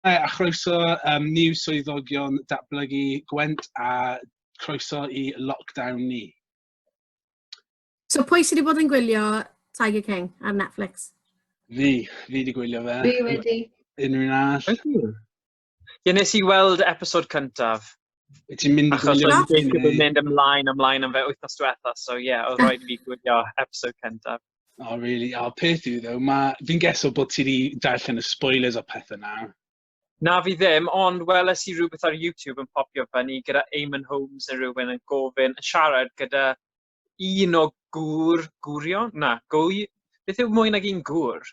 a chroeso um, new swyddogion datblygu Gwent a croeso i lockdown ni. So pwy sydd wedi bod yn gwylio Tiger King ar Netflix? Fi, fi wedi gwylio fe. Fi wedi. Unrhyw'n all? Ie, nes i weld episod cyntaf. Ti'n mynd i Achos gwylio... Achos o'n mynd ymlaen, ymlaen am fe wythnos diwetha, so ie, yeah, oedd rhaid i fi gwylio episod cyntaf. Oh, really? Oh, peth yw, ddo, mae... Fi'n geso bod ti wedi darllen y spoilers o pethau na. Na fi ddim, ond weles i rhywbeth ar YouTube yn popio fyny gyda Eamon Holmes yn rhywun yn gofyn, yn siarad gyda un o gŵr, gwrion? Na, gwy... Beth yw mwy nag un gŵr?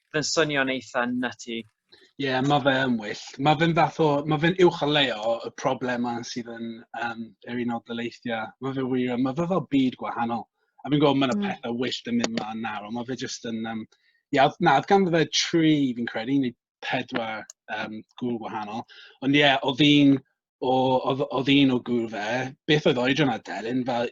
Mae'n swnio'n eitha nutty. Ie, yeah, mae fe yn wyllt. Mae fe'n fath o... Mae fe'n uwch o leo y problemau sydd yn um, yr un o dyleithiau. Mae fe wir... Mae fe fel byd gwahanol. A fi'n gwybod mae yna mm. pethau wyllt yn mynd mlaen nawr, ond mae fe jyst yn... Um, ia, na, oedd ganddo fe tri, fi'n credu, neu pedwar um, gŵl gwahanol. Ond ie, yeah, oedd un o, oedd, oedd un o gŵr fe, beth oedd oedran a delyn, fel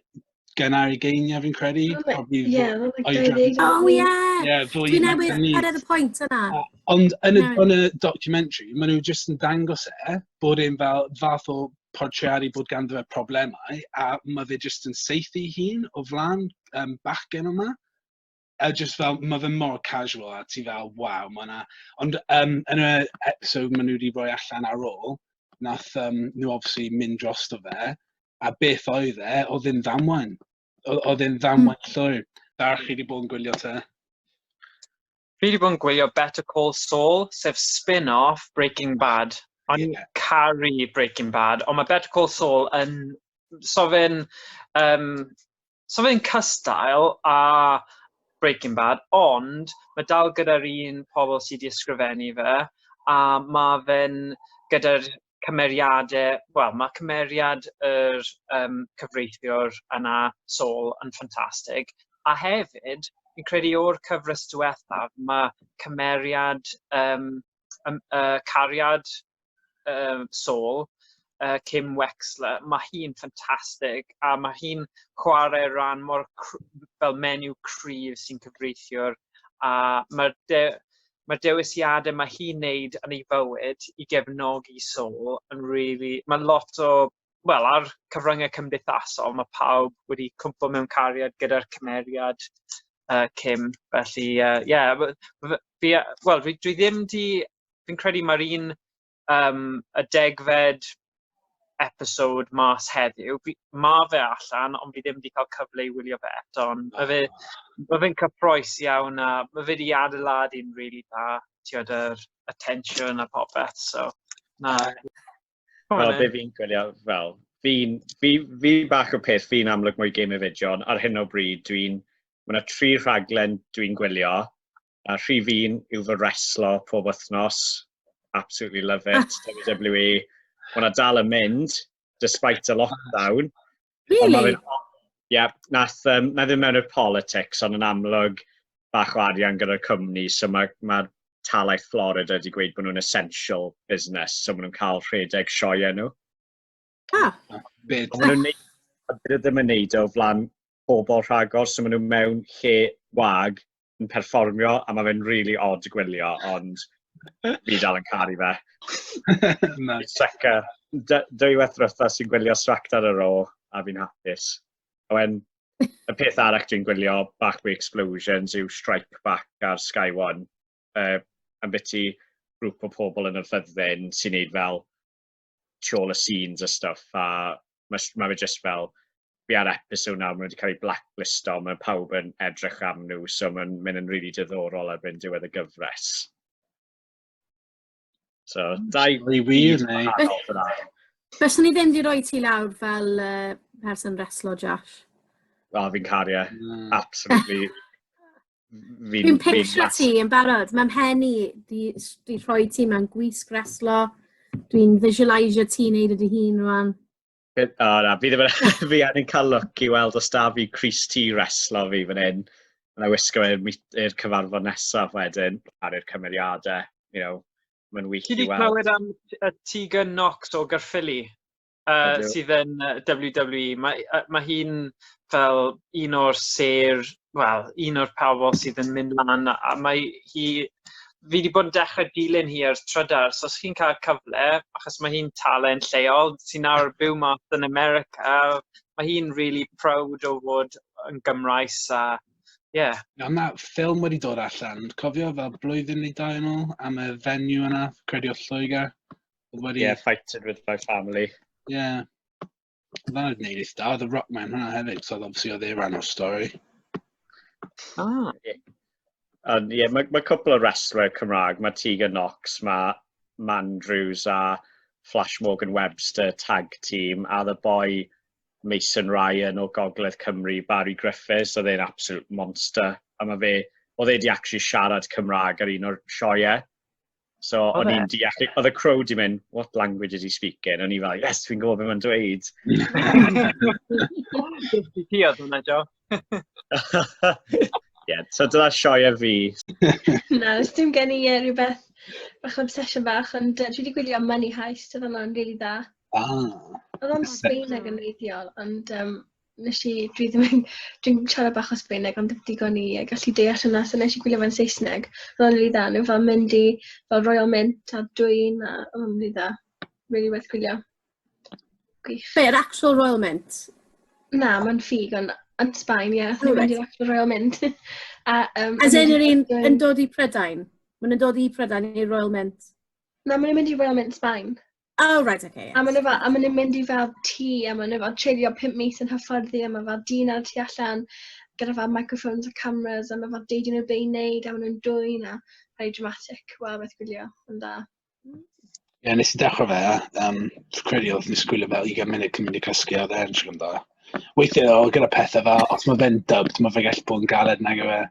gynnar i geiniau fi'n credu. Ie, yeah, oedran. Oh, ie. Yeah. Yeah, Dwi'n newydd cyrraedd y pwynt yna. Ond yn y, yn y documentary, maen nhw jyst yn dangos e, bod e'n fel fath o portreadu bod ganddo fe problemau, a mae fe jyst yn seithi hun o flaen um, bachgen yma. A jyst fel, ma' fe mor casual a ti fel "waw ma' 'na"... Ond yym yn y episode maen nhw 'di rhoi allan ar ôl, wnaeth yym nhw obviously mynd drosto fe, a beth oedd e, oedd e'n ddamwain. Oedd oedd e'n ddamwain llwyr. Darach, chi 'di bod yn gwylio te? Fi wedi bod yn gwylio Better Call Saul, sef spin-off Breaking Bad. O'n i'n yeah. caru Breaking Bad, ond mae Better Call Saul yn... So fe'n... Um, So fe'n cystal a Breaking Bad, ond mae dal gyda'r un pobl sydd wedi ysgrifennu fe, a mae fe'n gyda'r cymeriadau, wel, mae cymeriad yr um, cyfreithiwr yna, Sol, yn ffantastig, a hefyd, fi'n credu o'r cyfres diwethaf, mae cymeriad, um, um, uh, cariad uh, Soul, uh, Kim Wexler, mae hi'n ffantastig a mae hi'n chwarae rhan mor fel menyw cryf sy'n cyfreithiwr a mae'r de mae'r dewisiadau mae hi'n neud yn ei fywyd i gefnogi Soul yn really, mae lot o, wel, ar cyfryngau cymdeithasol, mae pawb wedi cwmpo mewn cariad gyda'r cymeriad uh, Kim, felly, ie, uh, yeah, fi, well, dwi ddim di fi'n credu mae'r un um, y degfed episode mas heddiw. Mae fe allan, ond fi ddim wedi cael cyfle i wylio fe eto. Mae fe, ma fe'n cyffroes iawn a mae fe wedi adeilad i'n rili really da. Tiod yr attention a popeth. So, na. Wel, be fi'n gwylio fel, fi'n fi, fi bach o peth, fi'n amlwg mwy game of fideo, ond ar hyn o bryd dwi'n, mae yna tri rhaglen dwi'n gwylio, A rhif un yw fy reslo pob wythnos. Absolutely love it. WWE. Mae hwnna dal yn mynd, despite y lockdown. Really? Ie, yeah, nath, um, na ddim mewn i'r politics, ond yn amlwg bach o arian gyda'r cwmni, so mae ma talaeth Florida wedi gweud bod nhw'n essential business, so maen nhw'n cael rhedeg sioe enw. Ah. Byd. Ond maen nhw'n neud, a byd ddim yn neud o flan pobl rhagor, so maen nhw mewn lle wag yn perfformio, a mae fe'n really odd gwylio, ond fi dal yn caru fe. Seca. Dwy weth rwytha sy'n gwylio Sract ar y ro, a fi'n hapus. A wen, y peth arall dwi'n gwylio Back Way Explosions yw Strike Back ar Sky One. Uh, am beth i grŵp o pobl yn y ffyddin sy'n neud fel tu ôl y scenes a stuff a mae ma fe jyst fel fi ar episode nawr, maen nhw wedi cael eu blacklist o, mae pawb yn edrych am nhw, so mae'n mynd yn rili really diddorol ar fynd diwedd y gyfres. So, hmm. dau i wir neu? Fes ni ddim wedi rhoi ti lawr fel uh, person reslo, Josh. O, fi'n cario, e. mm. absolutely. fi'n... Dwi'n picture ti yn barod. Mae mhen i, di, di rhoi ti mewn gwisg reslo. Dwi'n visualisio ti'n neud ydy hun rwan. O, oh, na, fi ddim yn... fi angen cael look i weld os da fi Chris T reslo fi fan hyn. Yn ei wisgo i'r cyfarfod nesaf wedyn, ar i'r cymeriadau, you know, mae'n wych i weld. Ti wedi clywed am y Tegan Knox o Garffili? uh, sydd yn WWE. Mae, uh, mae hi'n fel un o'r ser, wel, un o'r pawbol sydd yn mynd lan, a mae hi, fi wedi bod yn dechrau dilyn hi ar trydar, so os chi'n cael cyfle, achos mae hi'n talent lleol, sy'n nawr byw mas yn America, mae hi'n really proud o fod yn Gymraes a Ie. Yeah. Mae yna ffilm wedi dod allan, cofio fel blwyddyn neu dau yn ôl, am y fenyw yna, credu o Lloegr. Oedd wedi... Yeah, fighting with my family. Yeah. Oedd hwnna'n gwneud eith da. Oedd y rock man hwnna hefyd, so oedd obviously oedd ei ran o'r stori. Ah. Yeah. Ond ie, yeah, mae ma cwpl o wrestler Cymraeg, mae Tegan Knox, mae Mandrews a Flash Morgan Webster tag team, a the boy Mason Ryan o Gogledd Cymru, Barry Griffiths, oedd e'n absolute monster. A mae fe, oedd e di actually siarad Cymraeg ar un o'r sioiau. So oedd o'n e? i'n deall, oedd y crow di mynd, what language is he speaking? O'n i fel, yes, fi'n gwybod beth mae'n dweud. Di ti oedd hwnna, Jo. Ie, so dyna sioia fi. Na, os dim gen i uh, rhywbeth bach obsession bach, ond uh, dwi wedi gwylio Money Heist, oedd hwnna'n rili really dda. Ah. Oedd o'n Sbaen ag yn reidiol, ond um, nes i, dwi ddim yn, dwi'n siarad bach o Sbaeneg ond ddim digon i e, gallu deall hynna, so nes i gwylio fe'n Saesneg, roedd o'n rili dda, nhw fel mynd i fel Royal Mint a dwy'n a oedd o'n rili dda, rili werth gwylio. Gwych. Be, yr actual Royal Mint? Na, mae'n ffug ond yn Sbaen, ie, yeah, nhw'n mynd i'r actual Royal Mint. a, um, As in yr un yn dod i Prydain? Mae'n dod i Prydain i'r Royal Mint? Na, mae'n mynd i Royal Mint Sbaen. Oh, right, okay. A maen nhw fel, a maen nhw'n mynd i fel tŷ, a maen nhw fel treulio pum mis yn hyfforddi, a mae fel dyn ar y tu allan gyda fel microphones a cameras, a mae fel deud nhw be i wneud, a maen nhw'n dwy'n a rhai dramatic. Wel, beth gwylio, yn da. Ie, yeah, nes i dechrau fe, um, dwi'n credu oedd nes gwylio fel 20 munud cyn mynd i cysgu, oedd e'n siŵr yn da. Weithiau, o, gyda pethau fel, os mae fe'n dubbed, mae fe gallu bod yn galed nag yw e.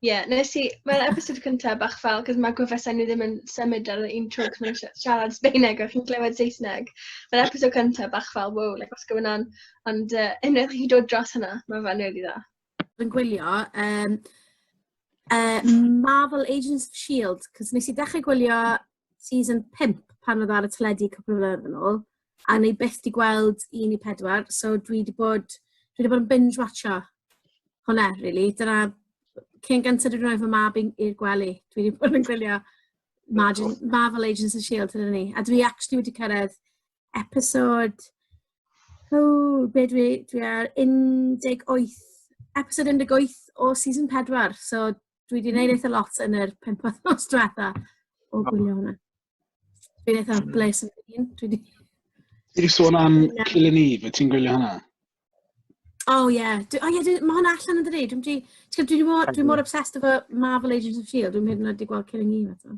Ie, yeah, nes i, mae'r episod cyntaf bach fel, cos mae gwefusau nhw ddim yn symud ar un tro, cos mae'n siarad Sbeineg a chi'n clywed Saesneg. Mae'r episod cyntaf bach fel, wow, like, os going on. Ond uh, unwaith chi dod dros hynna, mae fe'n really dda. Yn gwylio, um, uh, Marvel Agents of S.H.I.E.L.D. Cos nes i ddechrau gwylio season 5 pan oedd ar y teledu cwpl o flynedd yn ôl, a ni byth di gweld un i pedwar, so dwi di bod, dwi di bod yn binge watcho hwnna, really. Dyna, cyn gyntaf dwi'n rhoi fy mab i'r gwely, dwi di bod yn gwylio Margin, Marvel Agents of S.H.I.E.L.D. hynny ni. A dwi actually wedi cyrraedd episode... Oh, be dwi, dwi ar 18, episode 18 o season 4, so Dwi wedi gwneud eitha lot yn yr pimp wythnos diwetha o gwylio hwnna. Dwi'n eitha bles yn un. Dwi wedi... Ti wedi sôn am Killing Eve, ti'n gwylio hwnna? O oh, ie, yeah. oh, yeah, mae hwnna allan yn dydi? Dwi'n dwi, dwi, dwi, dwi mor obsessed efo Marvel Agents of S.H.I.E.L.D. Dwi'n hyd yn oed wedi gweld Killing Eve eto.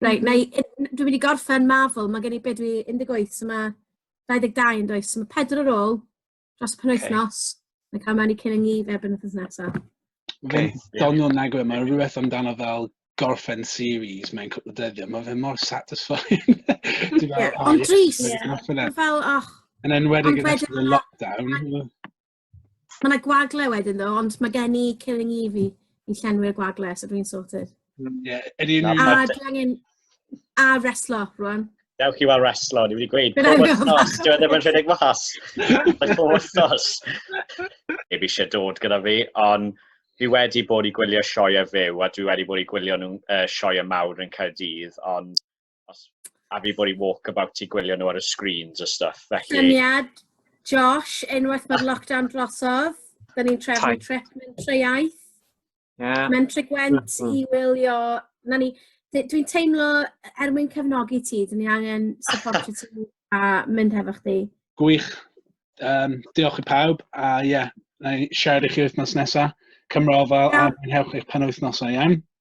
Reit, na i... dwi'n mynd i gorffen Marvel, mae gen i be dwi 18, so mae 22 yn does, so mae pedwar ar ôl dros y penwythnos, okay. mae'n cael mewn i cyn yng Nghyf erbyn wythnos nesaf. Okay. Don nhw'n nagwe, mae rhywbeth amdano fel gorffen series mewn cwpl o dyddiau, mae fe mor satisfying. Ond dris, fel, och. Yn enwedig yn ystod y lockdown. Mae yna gwagle wedyn ddo, ond mae gen i Killing Eve i llenwi'r gwagle, so dwi'n sorted. Mm, yeah. A dwi angen... A reslo, rwan. Dewch chi weld reslo, ni wedi gweud, pob wythnos, dwi ddim yn rhedeg mas. Pob wythnos. Eb eisiau dod gyda fi, ond fi wedi bod i gwylio sioe a fyw, a dwi wedi bod i gwylio nhw'n uh, sioe a mawr yn Caerdydd, ond Os a fi bod i walk about i gwylio nhw ar y screens a stuff. Felly... Syniad, Josh, unwaith mae'r lockdown drosodd, da ni'n trefnu trip mentre iaith. Yeah. Mentre Gwent mm -hmm. i wylio... Na ni, dwi'n teimlo, er mwyn cefnogi ti, dyn ni angen support ti a mynd hefo chdi. Gwych. Um, diolch i pawb, a ie, yeah, na i siarad i chi wythnos nesaf. Cymro fel yeah. a mwynhewch eich penwythnosau iawn.